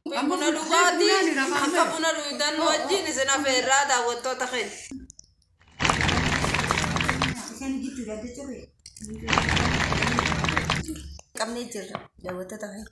Akka buna dhugaati akka buna dhuguudhaan wajjin isin afeerraa daawwattoota keenya. qabnee jirra daawwattoota keenya.